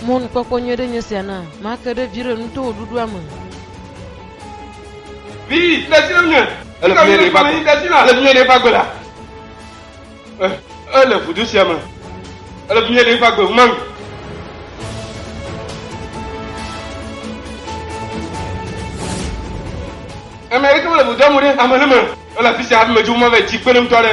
Mɔnukpɔkpɔ nyui aɖe nye sia na màke ɖe viɖe ŋu to wò ɖuɖua me. Vi, de asi na nye. Ele ƒu nyuiɖe va gbe. Ele ƒu nyuiɖe va gbe la. E, ele vudo sia me. Ele ƒu nyuiɖe va gbe maŋ. Ame aɖeke mele vudoa me ɖe ame aɖe me. Ele afi sia hafi medzo mava yi dzi kpeɖeŋutɔ aɖe.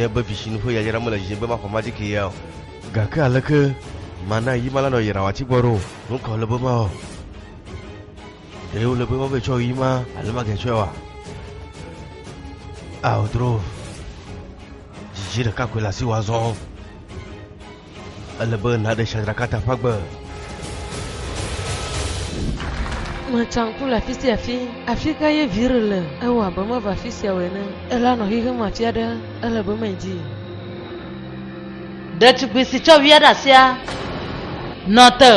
nye be visinu ƒe yayra mele dzidzi be maxɔ ma dike ya o gake aleke mana yi ma la nɔ yra wati gbɔ ɖo nukɔ le be ma o Ɖe wole be woage tsɔ yi ma alo mage tsɔe wa? Ao dro. Dzidzi ɖeka koe le asi wa zɔ. Ele be naɖe shadraka ta ƒe agbe. Metsãku le afi sia afi. Afi ka ye vire le? Ewɔ abe meva afi sia o ene. Ele anɔ xexeame afi aɖe. Ele be medi. Ɖetugbui si tsɔ via ɖe asia nɔ te.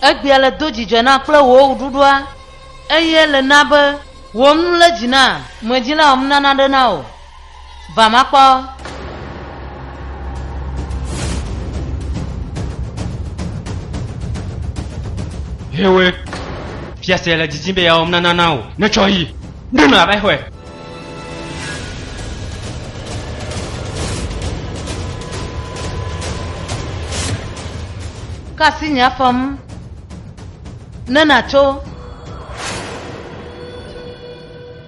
egbea le do dzidzɔ na kple wò ɖuɖua eye le na be wò nu le dzi na medzila wòm nana ɖe na o Vamakpɔ. Hewe. Fiase le didim be yeawɔ nana na wò. Netsɔ yi. Ɖo nɔ abe xɔe. Ka asi nye afɔm. Ne natso.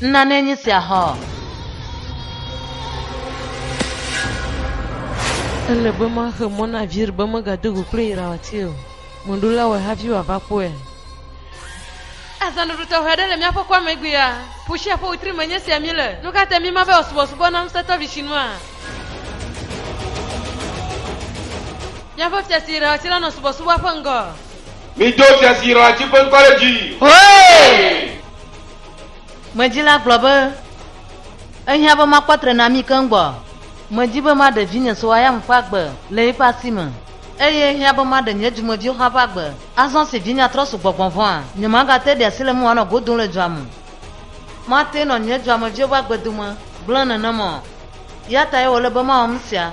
Nane nye sia hã ɔ? Ele be maxe mɔ na Vir be megado go kple Yirawati o. Mèɖo la wɔe hafi wòava kpɔea? Azã ɖuɖu tɔxɛ aɖe le míaƒe kɔa me egbea. Ƒu sia ƒe wetri me nye sia míele. Nu ka tae míema be wòasubɔsubɔ na ŋusẽtɔ Vishinua? Míaƒe fia si Yirawati la nɔ subɔsubɔa ƒe ŋgɔ. Mido fia si Yirawati ƒe ŋkɔ ɖe dzi! Hooe! Medzi la gblɔ be, Ehiã be makpɔ trenamii keŋ gbɔ. Medi be maɖe vinye so Ayam ƒe agbe le eƒe asi me. Eye ehiã be maɖe nye dumeviwo hã ƒe agbe. Azɔ si vinye atrɔ su gbɔgbɔ vɔ̃a, nyemagate ɖi asi le eme wòanɔ go dom le dua me. Mate nɔ nye duameviwo ƒe agbe dome gblẽ nenema o. Eya tae wòle be mawɔ nusia.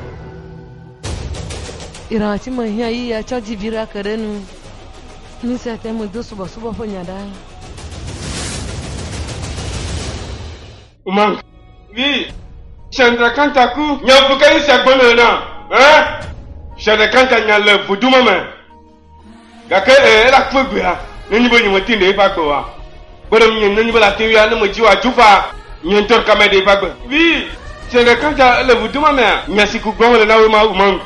Irã ci me hiã yí ya tsɔ ji viɖe ake ɖe nu. Nu sia te ŋu do subɔsubɔ ƒe nya ɖa. Uma, vi, Shandra Kanta ku. Nya bubu kae nye sia gblɔm nèle nam, hã? Shandra Kanta nya le voodoo ma me. Gake e, ela ku egbea, nenye be nyemete ŋu ɖe eƒe agbe oa? Kpe ɖe ŋunye nenye be ela te ŋui a, ne medzi wo adzo faa, nye ŋutɔ ɖeka maɖe eƒe agbe. Vi, ƒsẽ ɖeka ta ele vudo ma mea? Nya si ku gbɔm ele na wòe ma, ʋu maŋ.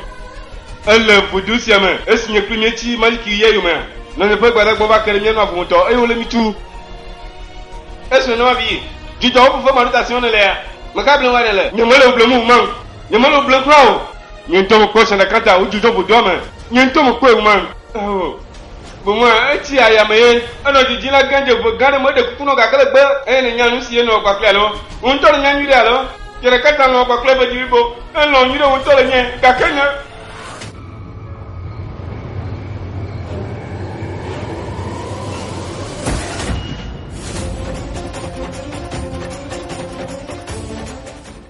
Ele vudo sia me, esi nye kple míetsi Maliki ɣia yomea, nɔnye ƒe gbadagbawo va ke ɖe mía nu avu ŋutɔ, eye wole mí tum. Esi nenema vie, dzudzɔwo fefe maɖotasewo nèlea, meka blem aɖe le? Nyemele wò blem o, ʋu maŋ. Nyemele blem kura o. Nye ŋutɔ mekpɔe zã ɖeka ta wodzudzɔ vodua me. Nye ŋutɔ mekpɔe ŋu maŋ. Ao. Boŋue etsi aya me ye enɔ dzidzii la gã dze ƒe gã aɖe me eɖe kuku nɔ gake le gbe eye nènya nusi ye nɔwɔ kpakple alo wò ŋutɔ nènya nyuiɖe alo Fia ɖeka ta lɔ̃ kpakple eƒe dziblibo elɔ̃ nyuiɖe wò ŋutɔ le nye gake nye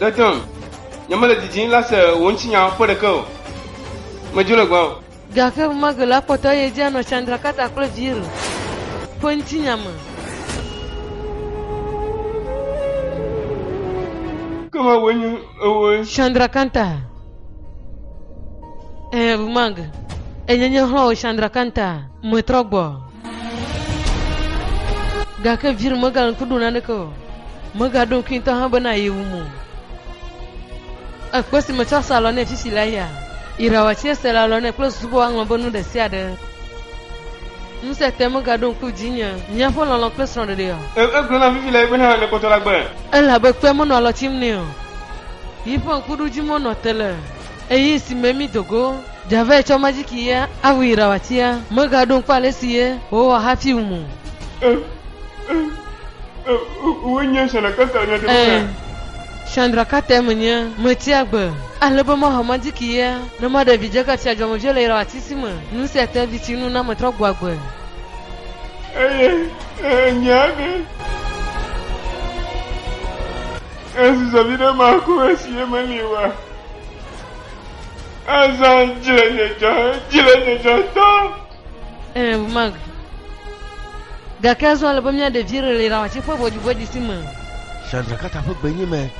Ɖetɔn, nyemele didim lase wò ŋutinya ƒe ɖeke o. Medzo le gbɔwò. Gake enumake la, kpɔtɔ ye dzi anɔ Chandrakata kple Veer ƒe ŋutinya me. Ke mewòe nye ewòe. Chandrakanta. Ɛɛ, Bhumag, enye nye xlɔ̃wò Chandrakanta. Metrɔ gbɔ. Gake Vir megaɖo ŋku ɖo naneke o. Megaɖo ŋkui ŋutɔ hã bena yewum o. Ekpe si metsɔ sa alɔ nɛ fi si la ya. Ira watsi ese le alɔ nɛ kple susu be woaŋlɔ be nu ɖe sia ɖe. Ŋusẽ te megaɖo ŋku dzinye. Míaƒe lɔlɔ̃ kple srɔ̃ɖeɖeɔ? E, egblɔ nam fifi lae bena ne kpɔtɔ la gbe. Elabe kpea menɔ alɔ tsim nɛ o. Yiƒe ŋkuɖodzimeɔ nɔ te le. Ɣeyiɣi si me mído go Javert tsɔ majiki ye aʋu yi ɖawatia megaɖo ŋku ale si ye wòwɔ hafi wum o. Ẽ, ẽ, ẽ, wòe nye Chandra Carter nya ɖe mea? Ẽ, Chandra Carter menye. Metia gbe ale be maha majiki ye ne maɖe vidzekatia dzɔmevie le yi ɖawati si me nu sia te vi si nu na metrɔ gbɔ agbe. Eye enya be esi zã viɖe ma ko esi ye meli oa? Azã dzi le nye dzɔ, dzi le nye dzɔ tɔ. Ɛɛ, mag. Gake azɔ ale be mía ɖevi ɖe le ɖawatsi ƒe ʋɔdzi si me. Shandrakata ƒe gbe nye me.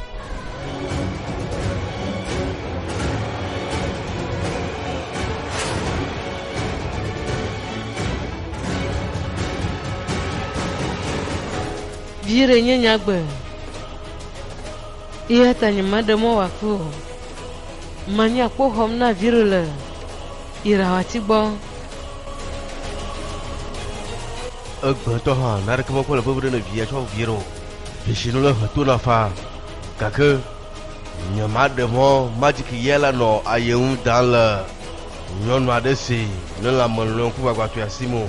Viɖe nye nyagbe. Eya ta nyemeɖe mɔ wòakui o. Manyi akpoxɔm na Viro le yi ɖawati gbɔ. Egbea ŋutɔ hã, naneke mekpɔ le vevi ɖe ne via tsɔ vie ɖo. Dzesinu le he tona faa, gake nyemaɖe mɔ majiki yɛ la nɔ aye ŋu dam le nyɔnu aɖe si ne lãme lɔe ŋkugbagbãtɔea si me o.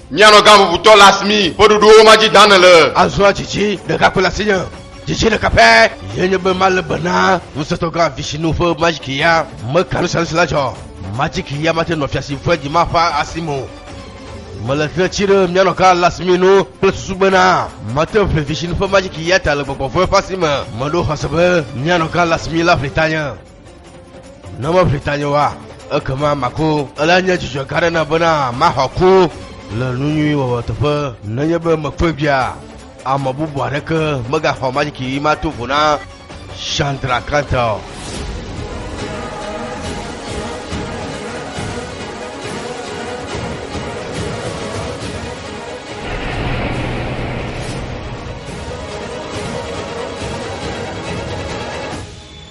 Mianɔ gã vuvutɔ le asimi, ƒe ɖoɖowo ma dzi dã nèle. Azɔ dzidzi ɖeka koe le asinye, dzidzi ɖeka pɛ ye nye be malé be na ŋusẽtɔ gã Vishinu ƒe madzikiya. Meka nu sia nu si la dzɔ, madzikiya mate nɔ fia si vɔ̃e dima ƒe asi me o. Mele tre tsi ɖe mianɔ gã le asimi nu kple susu bena mate ŋu ƒli Vishinu ƒe madzikiya ta le gbɔgbɔ vɔ̃e ƒe asi me. Meɖo xɔse be mianɔ gã le asimi la ƒli tanye. Ne meʋli tanye wa, ekema maku. Ele nye dzidzɔ gã ɖe na bena maxɔ ku le nu nyui wɔwɔ teƒe. Nenye be mekpɔe bia, ame bubu aɖeke megaxɔ majiki yi mato vo na Chandra Kanta o.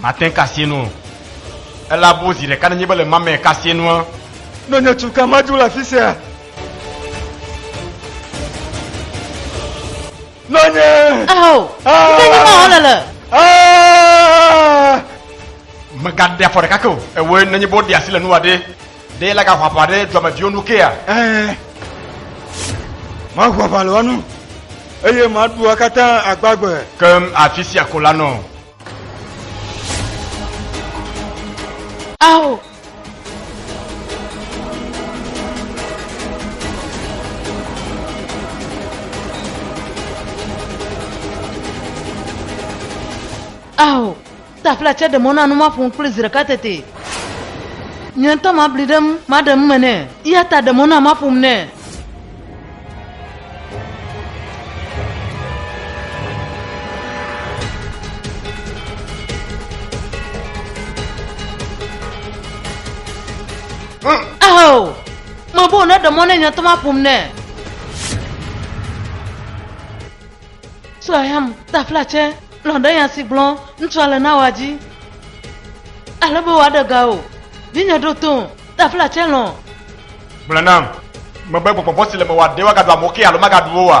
Mate ŋu kasie nu o. Ele abo zi ɖeka nenye be le ma me kasie nua. Nɔ nye tu ka madu le afi sia. Nɔ nye. Ao. Ŋke nye ma wòle le. Megaɖe afɔ ɖeka ke o. Ewoe nenye be woɖe asi le nuwa ɖe. Ɖe la gaho aʋa ɖe dɔmeviwo nu kea? Ɛɛ. Maho aʋa le wo nu, eye maɖu wo katã agbagbe. Ke afi sia ko la nɔ. Ao! Ao! Tafla tsɛ ɖe mɔ na nu maƒo nu kpli zi ɖeka tete. Nye ŋutɔ mabli ɖe eŋu, maɖe nu me nɛ, eya ta ɖe mɔ nam maƒo nu nɛ. Ao! Mebɔ wònaɖe mɔ nɛ nye ŋutɔ maƒo nu nɛ. Suayam taflatse lɔ̃ ɖe nya si gblɔm ŋutsua le na woa dzi. Ale be wòaɖe ga o. Vinye ɖo tom, taflatse lɔ̃. Gblɔ nam, mebe gbɔgbɔ vɔ̃ si le mewòa ɖe woagaɖu amewo ke alo magaɖu wo oa?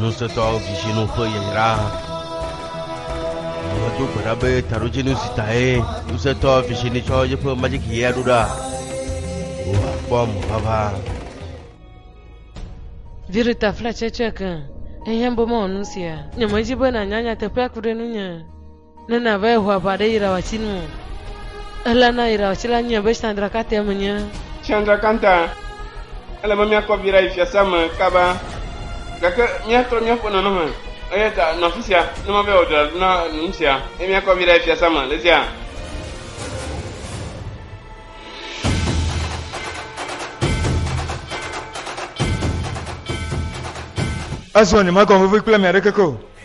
Ŋusẽtɔa vizi nu ƒe yayra. Ame do gbe ɖa be taɖodzinu si tae ŋusẽtɔ vizi ni tsɔ yeƒe majiki yea ɖo ɖa. Wòakpɔ ame vava. Virita fla tsɛtsɛke. Ehiã be mewɔ nu sia. Nyemedi be nànya nyateƒea ku ɖe ŋunye. Ne nava Yehowa ʋa ɖe Yirawatsi nu o, eɣla na Yirawatsi la nyɔe be Chandrakantea menye. Chandrakanta, ele be míakɔ vi ɖa yi fiasea me kaba, gake míatrɔ míaƒe nɔnɔme, eya ta nɔ afi sia ne mava yi wɔ dɔ alo na nu sia, eye míakɔ vi ɖa yi fiasea me le sia. Azɔ nyemagawɔ vevi kple ame aɖeke ke o.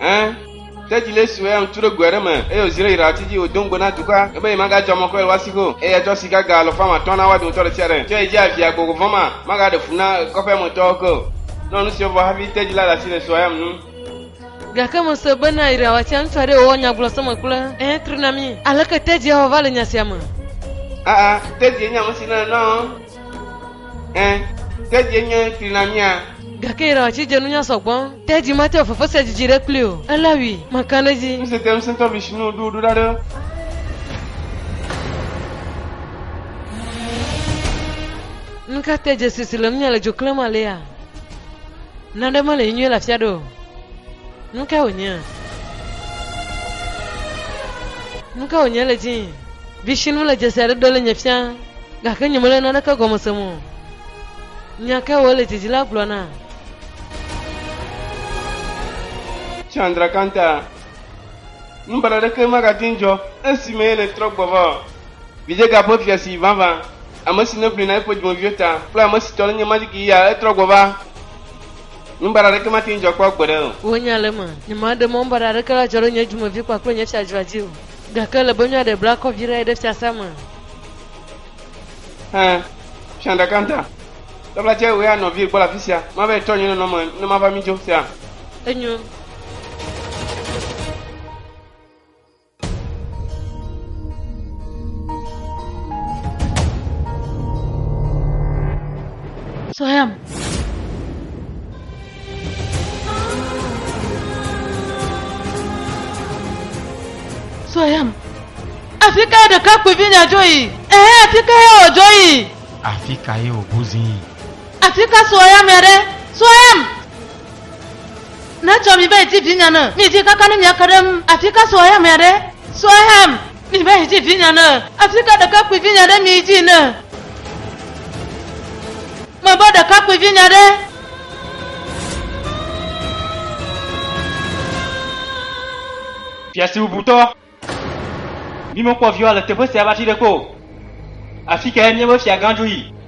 Ẽ, tedzi lé su, eya ŋutsu ɖo goe ɖe me, eye wòzi ɖe Yirahati dzi, wòdo ŋugbe na dukɔa, ebe yemagatsɔ amɔkɔe le woa si go, eye atsɔ sika ga alɔfa ame atɔ̃ na woa dometɔ ɖe sia ɖe, tsɔe dzi avia gbɔgbɔ vɔ̃ ma, magaɖe fu na kɔƒea me tɔwo ke o. Nɔ nu sia vɔ hafi tedzi la le asi le sua yam nu. Gake mese bena Yirahatia ŋutsu aɖee wòwɔ nya gblɔ seme kple ẽ tri na mí. Aleke tedzia wɔ va le nya sia me? Aa, tedzie nye ame si nana nuawo. Ẽ, tedie nye flina mía. Gake yira ɔtsi dze nunya sɔgbɔ. Tedzi mate wɔ fefe sia dzidzi ɖe kpli o. Ela wui. Maka ɖe edzi. Ŋuse te ŋusẽtɔ Vishnu ɖo ɖo ɖa ɖe. Nuka te dze si si le nunya le dzo klem alea? Naɖe mele nyuie le afia ɖe o. Nuka wònye? Nuka wònye le dzii? Vishinu le dzesi aɖe ɖe le nye fia gake nyemele naneke gɔme sem o. Nya kae wòle didi la gblɔ na? Chandrakanta, Nu baɖa aɖeke magate ŋu dzɔ esi me yele trɔ gbɔ va o. Vidzega ƒe fia si vavã, ame si neʋli na eƒe dumeviwo ta kple ame si tɔ nenye Majiki ya etrɔ gbɔ va. Nu baɖa aɖeke mate ŋu dzɔ kpɔ gbeɖe o. Wò nya le eme. Nyemade mɔ nu baɖa aɖeke la adzɔ ɖe nye dumevi kpakple nye fiadua dzi o. Gake ele be nua ɖe bla kɔ vi ɖe ɖe fiasea me. Ẽ, xiã ɖeka ŋta. Dabla tsɛ wòya nɔvie gbɔ le afi sia. Mava yi trɔ nye nɔnɔme ne mava mí dzo sea? Enyo. Sɔhɛam. Sɔyam. Afi ka ɖekakpuivi nya dzo yi? Ɛhɛ afi ka ya wòdzo yi? Afi ka ye wòbu zi yi? Afi ka sɔyam ya ɖe? Sɔyam! Netsɔ mi be iti vinya ne mi dzi kaka ne miake ɖe ŋu. Afi ka sɔyam ya ɖe? Sɔyam! Miva yi dzi vinye ne afika ɖekakpui vinye ɖe mi yi dzi ne me va ɖekakpui vinye ɖe. Fiasi bubutɔ, mi me kpɔ viwa le teƒe sia va tsi ɖe ko. Afikae miebe fiagã dzo yi?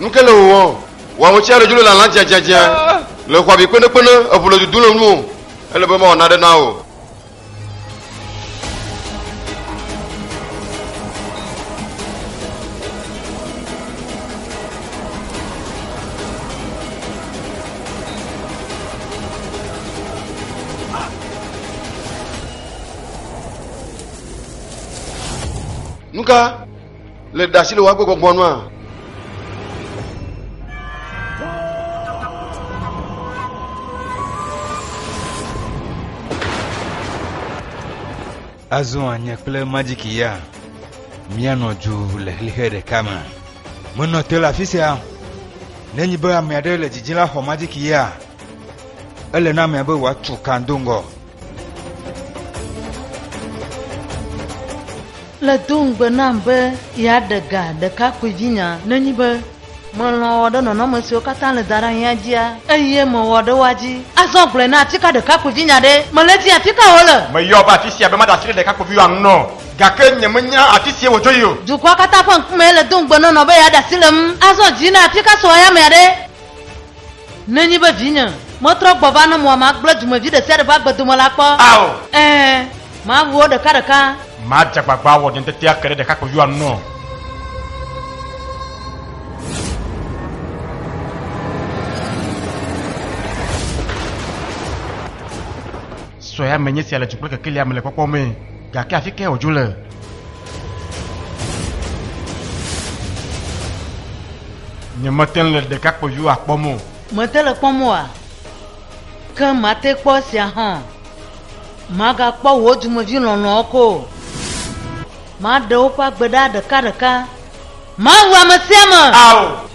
nukele wò wɔn wɔn ŋutsi aɖe dzro le alã dzadzadzia le xɔ abi kpenekpene eʋu le dudu le nu o ele be mawɔ naɖe na o. nuka le ɖasi le woagbɔ gbɔgbɔ nua Azɔ nye kple Majiki ya míanɔ dzo le xexe ɖeka me. Menɔ te le afi sia. Ne nyi be ame aɖe le dzidzim la xɔ Majiki ya, ele na amea be wòatu kan do ŋgɔ. Le do ŋugbe nam be yeaɖe ga ɖekakpuivinya ne nyi be Melɔ̃ wɔ ɖe nɔnɔme siwo katã le daɖaŋea dzia, eye mewɔ ɖe woa dzi. Azɔ gblɔe na atika ɖekakpuivinya ɖe, mele dim atika wòle. Meyɔ va afi sia be maɖe asi ɖe ɖekakpuiviwòa ŋu nɔ, gake nyemenya afi sie wòdzo yi o. Dukɔa katã ƒe ŋkumee le do ŋugbe nɔ nɔ be yeaɖe asi le ŋu. Azɔ dzi na atika sue ayamea ɖe. Nenye be vinye metrɔ gbɔ va ne mɔ magblẽ dumevi ɖe sia ɖe ƒe agbe dome la kpɔ. Ao. Ẽ, mawu wo ɖekaɖeka. Madze agbagba awɔ nye ŋutete ake ɖe ɖekakpuiviwoa ŋu o. Sue ame nye sia le du kple kekelia me le kpɔkpɔ me, gake afi kae wòdzo le? Nyemete ŋu le ɖekakpuiviwo akpɔm o. Mete le kpɔm oa? Ke mate kpɔ esia hã o. Magakpɔ wò dumevi lɔlɔ̃awo ko o. Maɖe woƒe agbe ɖa ɖekaɖeka. Mawu ame sia ame! Ao!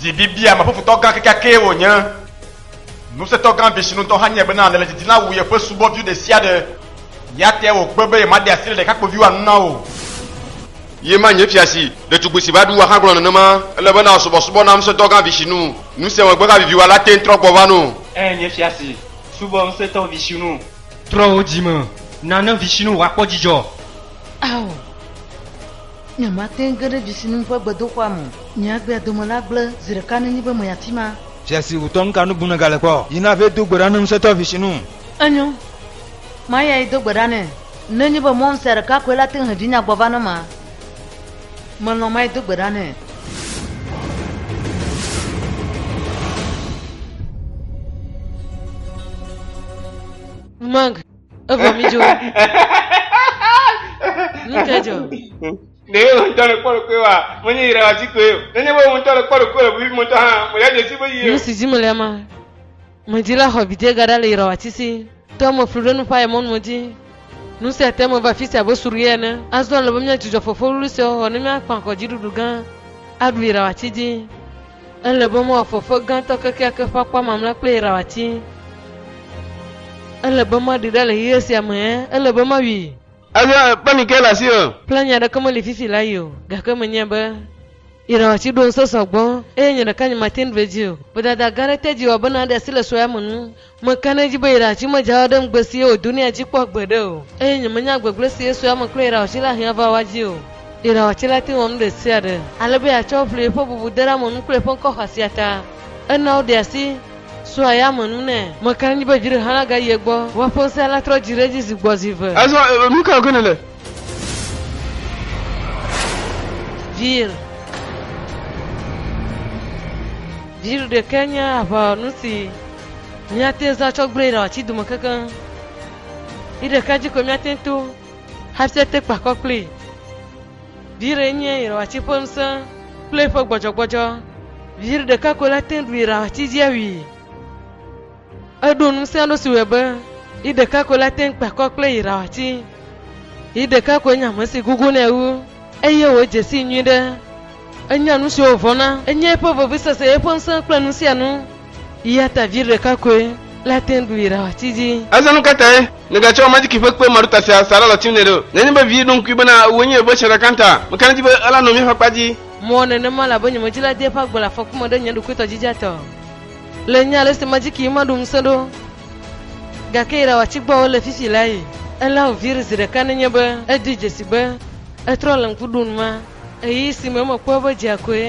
Dzibibiameƒofutɔ gã kekeakee wònye! Ŋusẽtɔ gã Vishnu ŋutɔ hã nyae bena alẽledzidila wu yeƒe subɔvi ɖesiaɖe. Ya tea wògbe be yemaɖe asi le ɖekakpuiviwo anu na o. Ye ma nye fia si ɖetugbui si va ɖu wua hã gblɔ nenema. Ele be nàsubɔsubɔ na Ŋusẽtɔ gã Vishnu. Nu sia megbe havivi wua la te ŋu trɔ gbɔ va nɔ. Ẽ, nye fia si, subɔ Ŋusẽtɔ Vishnu. Trɔ wò dzi me na ne Vishnu wòakpɔ dzidzɔ. Ao! Nyemate ŋu ge ɖe dzisinu ƒe gbedoxɔa me o. Nye agbea dome la gblẽ zi ɖeka nenye be menya afi ma. Fia si ŋutɔ nuka nu bum nègale kpɔ? Yi na vɛ do gbe ɖa ne ŋusẽtɔ vi si nu. Enyo, mayi ayido gbe ɖa nɛ. Nenye be mɔnu sia ɖeka koe la te ŋu he vinya gbɔ va na ma, melɔ̃ mayi do gbe ɖa nɛ. Mag. Evɔ mi dzo. Nuke dzo. Ne ye ŋutɔ le kpɔɖo koe wa, menye yi ɖe asi koe o. Ne nye be ŋutɔ le kpɔɖo koe le ʋui ŋutɔ hã, mo ya dzesi be yi. Nu si dzi mele ma. Medi la xɔ bidie gaɖa le yirɔ atisi. Te eme flu ɖe nu ƒa ye mɔnu medi. Nu sia te eme va fisi abe suɖu ye ene. Azɔ le be mía dzudzɔ fofo wluwlui sia xɔxɔ ne mía kpã kɔ dziɖuɖu gã aɖu yirɔ atsi dzi. Ele be moafɔ ƒe gãtɔ kekeake ƒe akpa mamlea kple yi ɖawɔ atii. Ele be maɖi ɖa le ɣeyiɣi sia me, ɛ̃, ele be mawui. Eɖo eŋu be, Mike le asiwò. Kple nya aɖeke meli fifi la yi o, gake menyae be yi ɖawɔ ati ɖo ŋusẽ sɔ gbɔ, eye nye ɖeka nyemate ŋu ɖu edzi o. Vodada gã aɖe te dzi wɔ bena aɖe asi le sue ya me nu. Meka ɖe edzi be yra tsi medze awa ɖe ŋugbe si ye wòdo nɛ dzi kpɔ gbeɖe o, eye nyemenya gbegblẽ si ye sue ame kple irawatsi la hiã va wa dzi o. Irawatsi la te ŋu wɔ nu ɖe sia ɖe ale be yeatsɔ aʋli eƒe bubudeɖeamɔnu kple eƒe ŋkɔ xɔasia ta. Enɔa woɖea asi sua ya me nu nɛ. Meka ɖe edzi be dzi ɖe hã la gayi egbɔ. Woa ƒe ŋusẽ la trɔ dzi ɖe edzi zi gbɔ zi ve. Azɔ nu kae ke nèle? Vir. Vir ɖekae nye aʋawɔnu si. Míate ŋu zã tsɔ gblẽe ɖe ati dome kekeŋ. Yi ɖeka dzi koe míate ŋu to hafi ate kpe akɔ kplii. Viɖe nye yrɔati ƒe ŋusẽ kple eƒe gbɔdzɔgbɔdzɔ. Viɖe ɖeka koe la te ŋu ɖu yrɔati dzi awui. Eɖo ŋusẽ aɖe si wɔe be yi ɖeka koe la te ŋu kpe akɔ kple yrɔati. Yi ɖeka koe nye ame si gugunɛ wu eye wòdze sii nyuiɖe. Enya nusiwo wòvɔ̃na. Enye eƒe vevisese, eƒe ŋusẽ kple nusianu. Eya ta vi ɖeka koe la te ŋu yra wòati dzi. Azɔ nu ka tae nègatsɔ majiki ƒe kpe maɖota sia sa ɖe alɔti nɛ ɖo? Nenye be vi ɖo ŋkui bena wòe nye yeƒe srɔ̃ɖaka ta, mekana di be ela nɔ mía ƒe akpa dzi. Mewɔ nenema elabe nyemedzila dea eƒe agbe le afɔku me ɖe nye ɖokui tɔ dzidzea te o. Le nye alesi majiki yi maɖu ŋusẽ ɖo, gake yra wòati gbɔ wòle fifi la yi. Ela wòvi ɖe zi ɖeka nenye be edoe dzesi be etrɔ le ŋku ɖum ma. Ɣeyiɣi si me mekpɔe be dzea koe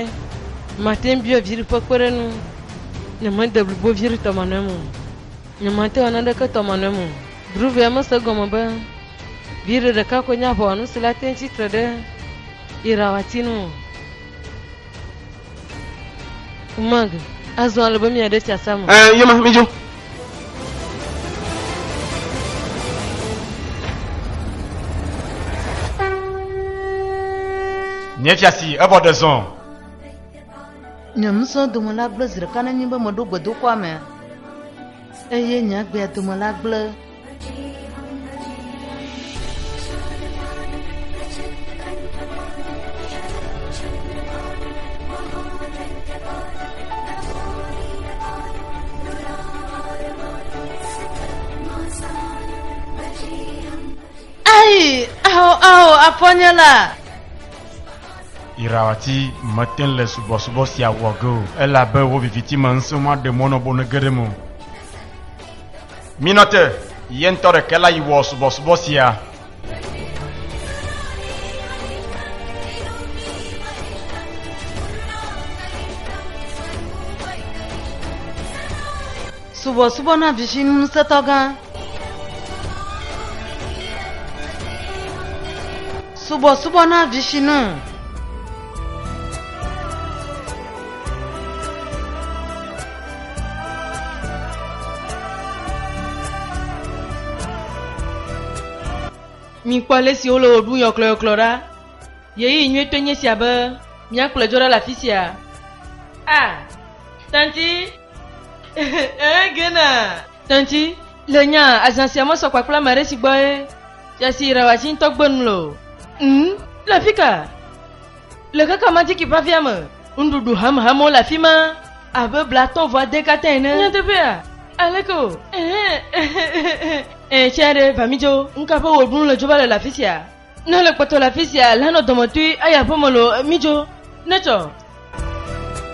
mate ŋu bia viɖe ƒe kpeɖeŋu. Nyemede blibo viɖe tɔmanɔe me o. Nyemate ŋu awɔ naneke tɔmanɔe me o. Druvia mese egɔme be viɖe ɖeka koe nye aʋawɔnu si le ate ŋu tsi tre ɖe irawa ti nu o. Mag, azɔ ale be miaɖe fiasã me. Ɛɛ, eh, yema, midzo. Nye fiasi, evɔ ɖe zɔn. Nye musɔ dome la gblẽ zi ɖeka nenye be meɖo gbedoxɔa mea, eye nye agbea dome la gblẽ. Ayi, ao, ao, afɔnyela. Irawati mete le subɔsubɔ sia wɔ ge o, elabe wo viviti me ŋusẽ maɖe mɔ nɔ bone ge ɖem o. Minote ye ŋutɔ ɖeke la yi wɔ subɔsubɔ sia. Subɔsubɔ na vizi ŋusẽtɔ gã. Subɔsubɔ na vizi nu. Mikpɔ ale si wole wò ɖum yɔklɔyɔklɔ ɖa. Ɣeyiɣi nyuitɔe nye sia be míakplɔe dzo ɖa le afi sia. A. Tanti. Ee, Gena. Tanti, le nya azã sia me sɔ kpakple ame aɖe si gbɔe Fiasi Rawatsi ŋutɔ gbe nu le o. Ŋ, le afi ka? Le kaka majiki ƒe afia me, nuɖuɖu hamhamewo le afi ma abe bla atɔ̃ vɔ ade katã ene. Nyateƒea, aleke o? Ẽ, tsɛ ɖe, va mídzo. Nu ka ƒe wɔɖunu le dzo va le le afi sia? Ne ele kpɔtɔ le afi sia, lanɔ dɔmetɔe ayi aƒeme loo, mídzo. Netsɔ.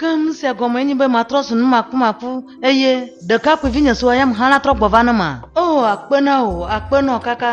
Keŋ sia gɔmee nye be matrɔ zu numakumaku, eye ɖekakpuivinye si wɔyem hã la trɔ gbɔ va ne ma. O, akpe na wò, akpe nɔ kaka.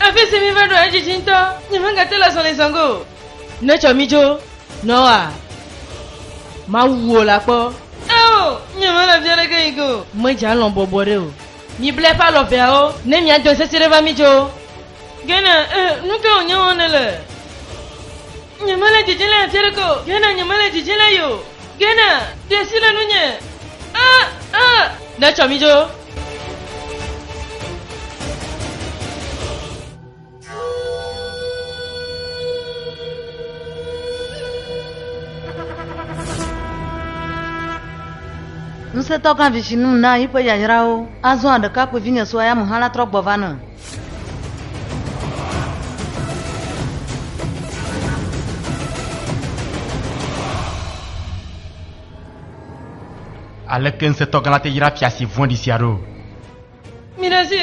Afi si mi va ɖo edzidzi ŋutɔ, nyemegate le azɔli zɔge o. Netsɔ mi dzo nɔ wòa? Mawu wò la kpɔ. Ao, nyemele afi aɖeke yi ge o. Medze alɔ̃ bɔbɔ ɖe o. Mibla eƒe alɔ veawo. Ne mia dɔn sesẽ ɖe va mi dzo. Gena, e, nu ka wònye wɔm nèle? Nyemele didim le afi aɖeke o. Gena, nyemele didim le ye o. Gena, ɖe asi le nunye. A, a! Netsɔ mi dzo Ŋusẽtɔ gã vivi nu na yiƒe yayrawo. Azɔ ɖekakpui vinye sua ya mu hã la trɔ gbɔ va ne. Aleke ŋusẽtɔ gã la te yra fia si vɔ̃ɖi sia ɖo? Mina zi.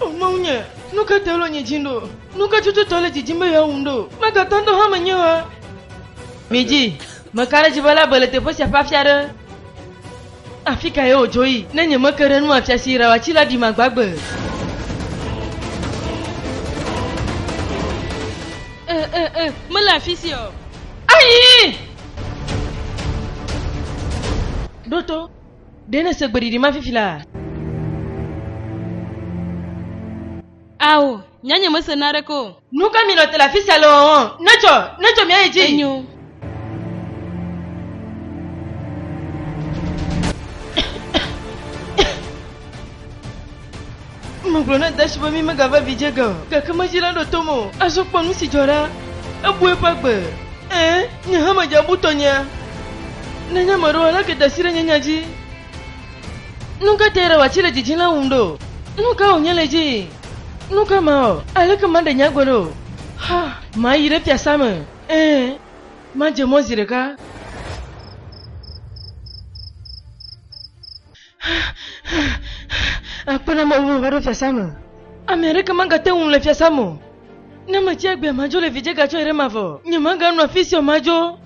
O Mawu nye, nu ka tae wole nye dzi ɖo? Nu ka tsotso le dzidzim be yeawum ɖo? Megatɔ ŋdɔ hã menye wa. Midzi, meka ɖe dzi be labe le teƒe sia ƒe afi aɖe. Afi ka ye wòdzo yi? Ne nyemeke ɖe nu afia si Rawa tsi la ɖi magbagbe. E, e, e, mele afi sia o. Ayi! Ɖo to. Ɖe nèse gbeɖiɖi ma fifi la? Ao, nya nyemese naneke o. Nu ka minɔ te le afi sia le wɔwɔ? Netsɔ, netsɔ míayi dzi. Enyo. Megblɔ na Dashi be mímegava vidzĩ ge o, gake medzi la ɖo tom o. Azɔ kpɔ nu si dzɔ ɖa. Ebu eƒe agbe. Ẽ, nye hã medze abu tɔnyea. Nenye ame aɖewo aleke da asi ɖe nye nya dzi. Nu ka tae ɖawati le dzidzĩ la wum ɖo? Nu ka wònye le edzii? Nu ka mawɔ? Aleke maɖe nye agbe ɖo? Ha, mayi ɖe fiasã me. Ẽ, madze mɔ zi ɖeka. Akpe na ame va ɖo fiasã me. Ame aɖeke magate ŋu le fiasã me. Ne metsi agbea madzo le vidzega tsɔe ɖe mavɔ. Nyemaganɔ afi sia o madzo.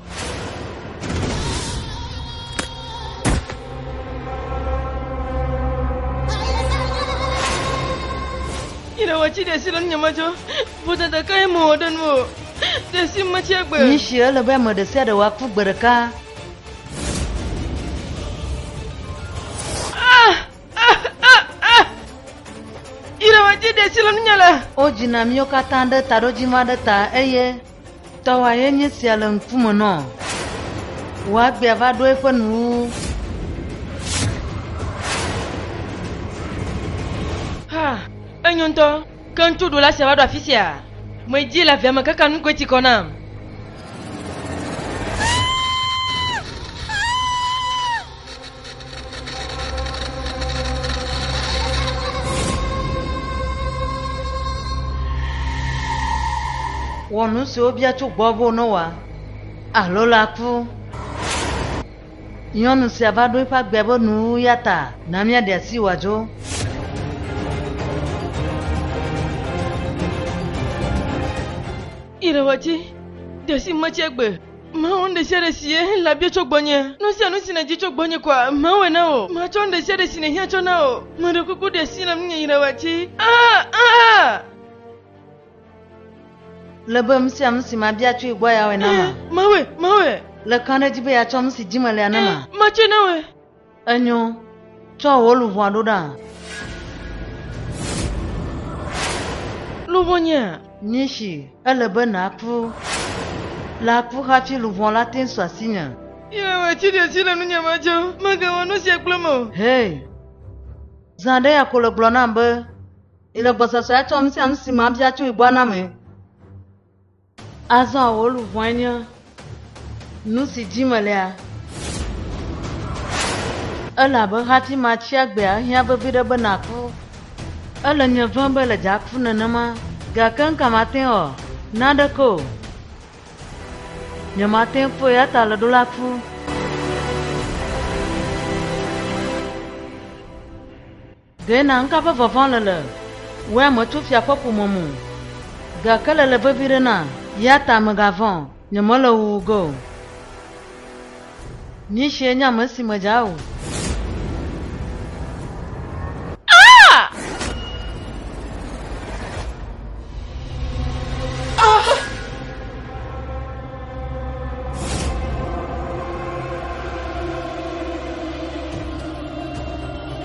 Yehowa tsi ɖe si le nye madzo. Vodada kae mewɔ ɖe nu o. Ɖe si metsi agbe. Nyi si ele be ame ɖe sia ɖe wòaku gbe ɖeka. Wodzina míwo katã ɖe taɖodzi ma ɖe ta eye tɔwa ye nye sia le ŋkume nɔ. Wò agbea va ɖo eƒe nu. Ha, enyo ŋutɔ. Ke ŋutsuɖola sia va ɖo afi sia. Medi le avea me kaka nu koe ti kɔ nam. Wɔ nu siwo bia tso gbɔwò be wònɔwɔa, alo laku. Nyɔnu sia va ɖo eƒe agbea ƒe nu, eya ta na míaɖe asi wòadzo. Irewati, de si me tsi egbe. Mawu nu ɖe sia ɖe si ye la bia tso gbɔnye. Nu sia nu si nèdi tso gbɔnye koa, mawɔe na wò. Matsɔ nu ɖe sia ɖe si nèhiã tsɔ na wò. Meɖe kuku ɖe asi na ŋunye Irewati. Aa! Aa! Le be nu sia nu si mabia tsoe gbɔ ya wɔe na ma. Mawɔe, mawɔe. Le kã ɖe edzi be yeatsɔ nu si dzi melea na ma. Matsɔe na wɔe. Enyo, tsɔ wò luʋɔa ɖo ɖa. Luʋɔnyea? Nishi, ele be nàku. Le aku hafi luʋɔ la te su asinye. Yehowa, tsi ɖe asi le nunye ma dzi. Mègawɔ nu sia kplem o. Hei, zã aɖe ya ko le gblɔ nam be. Ele gbɔsɔsɔe atsɔ nu sia nu si mabia tso gbɔ na ame. Azɔ wò luʋɔe nye nu si dim melea. Ele abe hati ma tsi agbea ehiã vevi ɖe be naku. Ele nye vem be le dza ku nenema, gake nuka mate ŋu awɔ? Naneke o. Nyemate ŋu kpɔe eya ta le ɖo la ku. Ɖe na ŋka ƒe vava le le wea me tso fia ƒe ƒome me o, gake le le vevi ɖe na, ya ta megavɔ̃ o, nyemele wuwu ge o. Nyitsie nye ame si me dza o.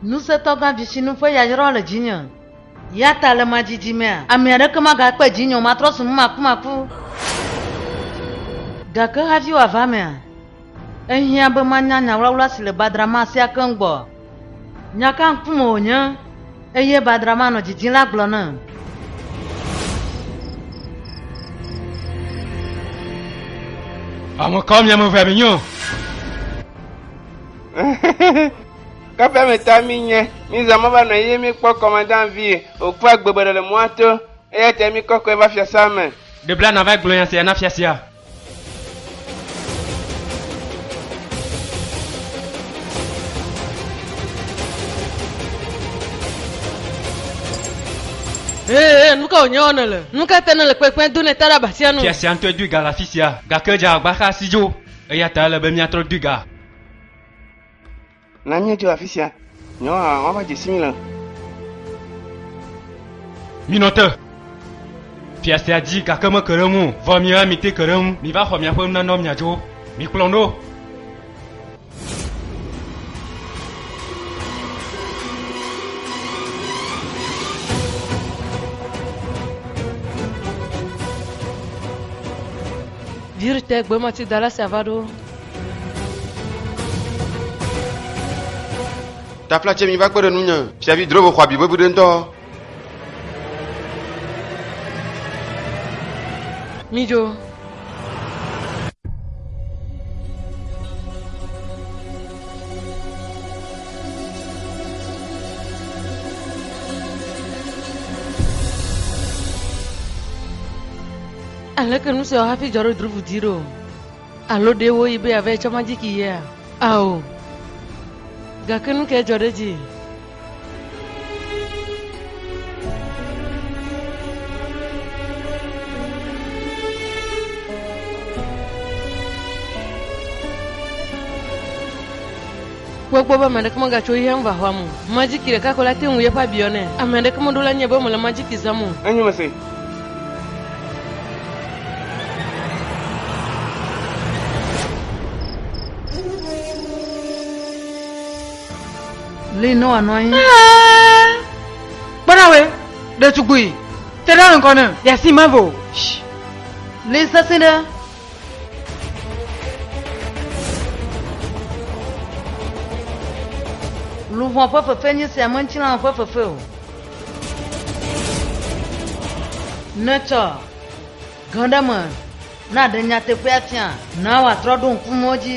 Ŋusẽtɔgã dzitsinu ƒe yayrawo le dzinye, yata le ma dzidzimea, ame aɖeke magakpe dzinye o, matrɔ zu numakumaku. Gake havi wòava emea, ehiã be manya nya wlawla si le badrama sia keŋ gbɔ. Nya ka ŋku me wònye, eye badrama nɔ didi la gblɔ nam. Ame kawo mi ame evea mi nye? Kɔƒea me ta mi nye, mi zã mɔ va nɔ eye mi kpɔ kɔmandan vie, o kpɔ agbe bɔɖe le mɔa to, eya ta mi kɔ kɔe va fiasa me. Ɖe bla na va gblɔ nya sia na fia sia. Ee, nu ka wònye wɔna le? Nu ka ta nèle kpekpem do nèta ɖe abatia nu? Fia sia ŋutɔe dui ga le afi sia, gake dze agbagba xa si dzo, eya ta ele be míatrɔ dui ga. Na míedzo afi sia. Nyawo hã woava dze si mí le. Minɔ te. Fia sia dzi gake meke ɖe eŋu o. Vɔ mi hã mite ke ɖe eŋu. Miva xɔ miaƒe nunanawo miadzo. Mikplɔm ɖo. Virte gbemati dala sia va ɖo. Tafla tse mi va kpe ɖe nu nye. Fiavi Drovo xɔ abi vevi ɖe ŋutɔ. Midzo. Aleke nu sia wɔ hafi dzɔ ɖe Drovo dzi ɖo? Alo ɖe woyi be yeava etsɔ majiki yea? Ao. Gake nu kae dzɔ ɖe edzi? Kpɔe kpɔ be ame aɖeke megatso eya ŋu va xɔa me o. Majiki ɖeka ko la te ŋu yeƒe abi yɔnɛ. Ame aɖeke meɖo la nɛ be mele majiki zãm o. Enyo mese. Lynn nɔ anɔ anyi. Kpɔnawe, ɖetugbui, te ɖe ŋkɔ ne. Yasi mavo. Lynn sesẽ ɖe. Luʋɔ ƒe fefe nye sia menye tsilãwo ƒe fefe o. Netsɔ gã ɖe me na ɖe nyateƒea fia. Na wòatrɔ ɖo ŋku mɔ dzi.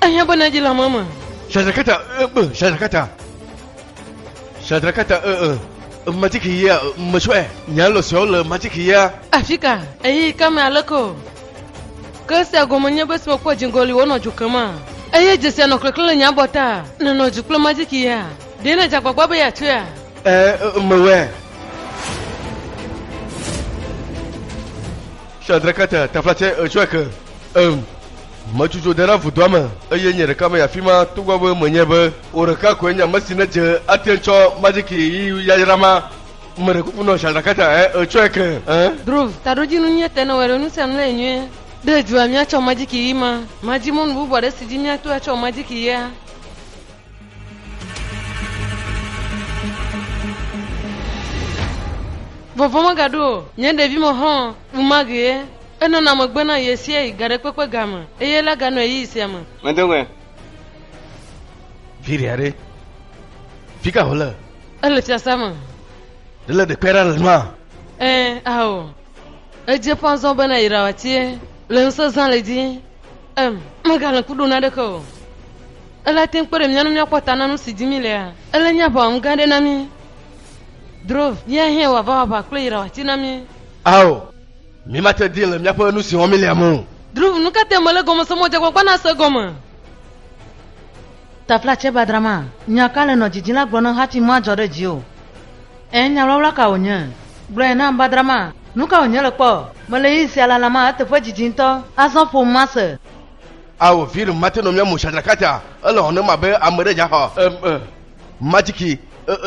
Ehiã be nàdzi le ame me. Shadrakata e e Shadrakata Shadrakata e e Magic yea metsɔe nya lɔ siawo le magic yea. Afika ɣeyiɣi ka me aleke o ke esia gɔme nye be esi mekpɔ dziŋgɔli wònɔ dzo kema eye dze sia nɔ klẽklẽ le nye abɔta nènɔ dzu kple magic yea ɖe nèdze agbagba be yeatsoea? E e mewɔe. Shadrakata taflatse etsɔe ke em. Metsu dzo de ɖe vodua me, eye nye ɖeka menye afi ma, togbɔ be menye be wò ɖeka koe nye ame si nedze ate ŋu tsɔ majiki ɣi yayra ma. Meɖe kuku nɔ Shadrakata, ẽ, ètsɔe ke, ẽ? Drove, taɖodzinu nyuie te ne wɔɖe nusia nu le nyuie. Ɖe èdua míatsɔ majiki ɣi ma? Madi mɔnu bubu aɖe si dzi míato atsɔ majiki ɣia? Vɔvɔ̃ megaɖo o. Nye ɖevime xɔ̃, ɣemaɣie, enɔna megbe na ɣesiaɣi gaɖekpekpe ga me, eye la ganɔ ɣeyiɣi sia me. Medo ŋue. Viɖe aɖe. Fika wòle? Ele fiasea me. Ɖe le ɖekpe aɖe le nua? Ẽ, ao. Edze ƒã zɔ be nàyra wòatie, le ŋusẽ zã le edzi. Em, megale ŋku ɖom na ɖeke o. Ele ate ŋu kpe ɖe mía ŋu míakpɔ ta na nu si dim mílea? Ele nye aʋawɔnu gã aɖe na mí. Dro, Yea hɛ̃ wò aʋaʋaʋa kple yra wòati na mí. Ao, mímate dii le míaƒe nu si wɔm mílea me o. Dro, Nu ka tae mele gɔme se mɔ dzeagbagba nase gɔme? Tafla tsɛ ba drama Nya Ka Le Nɔ Didi la gblɔ nam hafi madzɔ ɖe dziwò? Ẽ, nya ʋlawla ka wònye? Gblɔe nam ba drama Nu ka wònye le kpɔ? Mele ɣeyiɣi sia lalam a, eteƒe didi ŋutɔ. Azɔ ƒom mase. Ao viri mate no mia musha drakata ele hɔnem abe ame ɖe dzaxɔ e majiki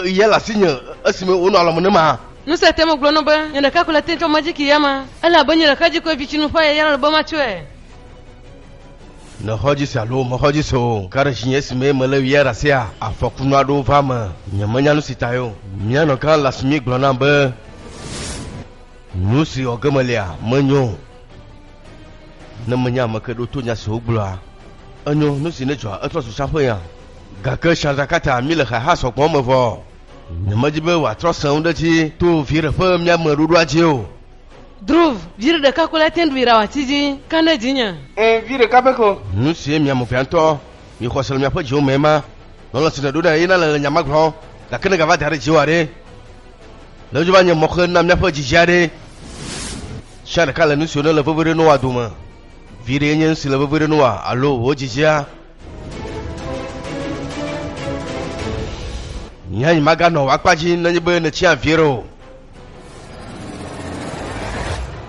ye le asinye esime wonɔ alɔme ne ma. Nu sia tem gblɔ no be nye ɖeka ko le te tsɔ majiki ya ma. Ele abe nye ɖeka dzi koe vi tsinu ƒe ayaya la le be matsɔe. Ne xɔ dzi se alo mexɔ dzi se o, ka ɖe dzinye esime mele ɣia ɖasia afɔku nua ɖo va me. Nye menya nu si tae o. Mia nɔgã Lasmi gblɔ nam be nu si wɔ ge melia menyo. Ne menye ame ke ɖo to nya si wogblɔa, enyo nu si nedzɔa etrɔ zu tsãƒe ya. Gake Chandrakata mi le xeha sɔgbɔ me vɔ. Nyemedi be wòatrɔ sẽ ŋu ɖe edzi to viɖe ƒe miame ɖoɖoa dzi o. Dhruv, viɖe ɖeka ko la tɛnɖ viɖe awati dzi ka ne dzinye. Ẽ, vi ɖeka pɛ ko. Nu sie mi ame vea ŋutɔ mi xɔse le miaƒe dziwo mee ma. Lɔlɔ̃ si nèɖo nɛ ye nale le nya ma gblɔm. Gake negava da ɖe dziwò haɖe. Ne wodze va nye mɔxe na míaƒe dzidzia aɖee, sia ɖeka le nu siwo nele veve ɖe Noa dome. Vi ɖee nye nu si le veve ɖe Noa alo wò dzidzia. Nye hã nyimaganɔ wò akpa dzi nenye be nètsi avie ɖe o.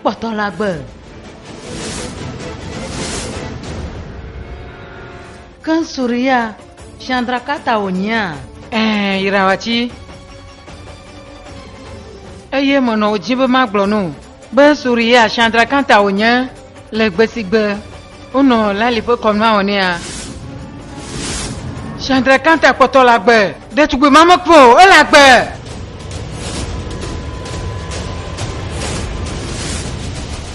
Kpɔtɔ la gbe. Ke Suriya, Chandra Kata wònyea? Ɛɛ, yrawa ci. Eye menɔ wò dzi be magblɔ no be Suriya, Chandra Kata wònye le gbe si gbe. Wonɔ lali ƒe kɔnua wɔ nɛa? Shandra Kanta kpɔtɔ le agbe. Ɖetugbui ma mekpɔ o, ele agbe.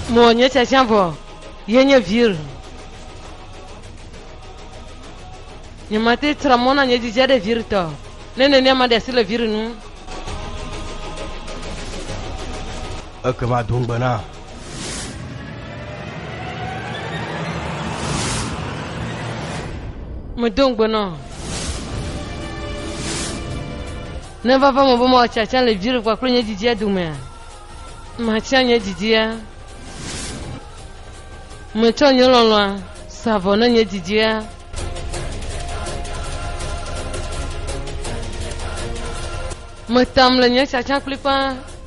Mo nye tsatsia vɔ, ye nye vir. Nye mate tra mɔ na nye dzidzia ɖe vir tɔ. Ne nenia ma ɖe asi le vir nu. Ekema do ŋugbe na. Medo ŋugbe nɔ. Ne va va me be ma tsatsa le vi ɖe kpakple nye didia domea, matsã nye didia. Metsɔ nye lɔlɔ̃a sa vɔ ne nye didia. Metam le nye tsatsa kplikpaa.